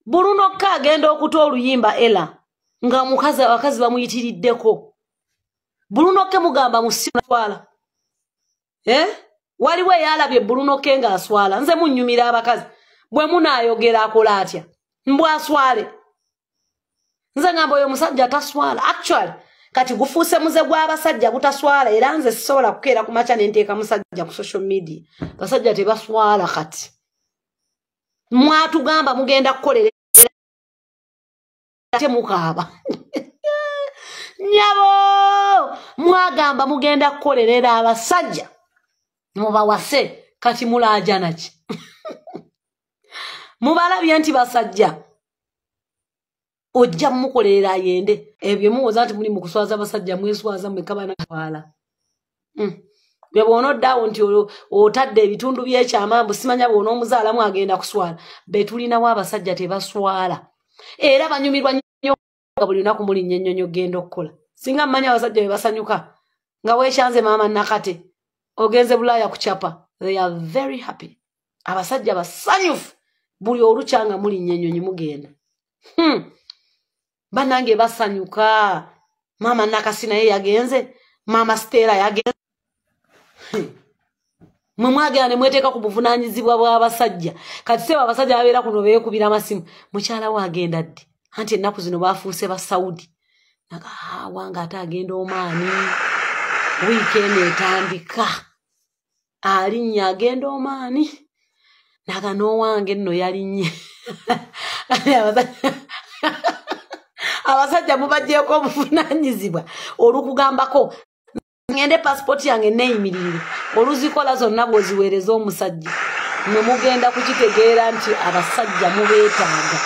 bulunokka agenda okuta oluyimba ela nga mukazi abakazi bamuyitiriddeko bulunokke mugamba musitwala eh? waliwo eyalabye bulunokke ng'aswala nze munnyumira abakazi bwe munaayogera akola atya mbwaswale nze ngamba oyo omusajja taswala actually kati gufuuse muze gw'abasajja butaswala era nze sisobola kukeera ku makya ne nteeka musajja ku social media basajja tebaswala kati mwatugamba mugenda kukolera ate mukaaba nyabo mwagamba mugenda kukolerera abasajja mubawase kati mulaajanaki mubalabye nti basajja ojja mukolerera ayende ebyo muwoza nti muli mukuswaza abasajja mweswaza mwekabana twala mm. ne bwona oddaawo nti otadde ebitundu byekyama mbu simanya bwona omuzaalamu agenda kuswala betulinawo abasajja tebaswala era banyumirwa nyo nga buli lunaku muli nnyo ennyonyo genda okukola singa mumanya abasajja be basanyuka nga wekyanze maama nakate ogenze bulaaya kucapa they are very happy abasajja basanyufu buli olukya nga mulinnya ennyonyi mugenda hmm. banange basanyuka maama nakasi naye yagenze maama siteera yagenze hmm. mwe mwagenda ne mweteeka ku buvunaanyizibwa bw'abasajja kati seeba abasajja babeera kuno beekubira amasimu mukyala we agenda ddi anti ennaku zino baafuuse ba saudi naga haawa ng'ate agenda omaani wiikendi etandika alinnye agenda omaani naga n'owange nno yalinnye abasajja mubagyeko obuvunanyizibwa olukugambako ngende pasipooti yange neeyimirire oluzikola zonna bwoziweereza omusajja ne mugenda kukitegeera nti abasajja mubeetaaga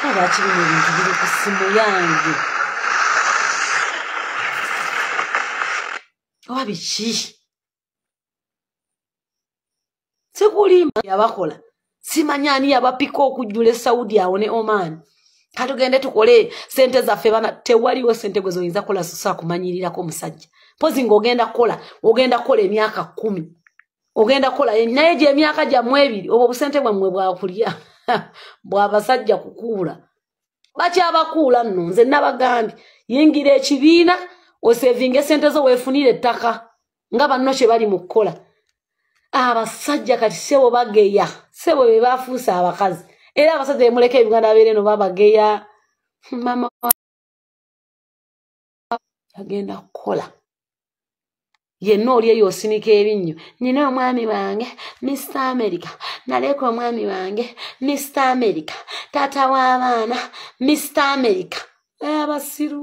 abakirimu ebintu biri ku ssimu yange oba biki sikulimba yabakola simanyi ani yabapika okujjula esaudi awo ne oman katugende tukole sente zaffe bana tewaliwo sente gwe zoyinza kukola sosa kumanyirirako omusajja mpozi ngaogenda kukola ogenda kukola emyaka kumi ogenda kukola naye gyemyaka gyammwe ebiri obwo obusente bwammwe bwakulya bwabasajja kukuula bakyabakuula nno nze nabagambye yingira ekibiina osevinga esente zo weefunire ettaka nga banno kye bali mu kukola abasajja kati sebo bageya sebo be bafuuse abakazi era abasajja bemuleka ebiganda abeere no babageya mama agenda kukola yenna oli eyo osinika ebinnyo nina omwami wange mr america naleeka omwami wange mr america taata w'abaana mr america abasiru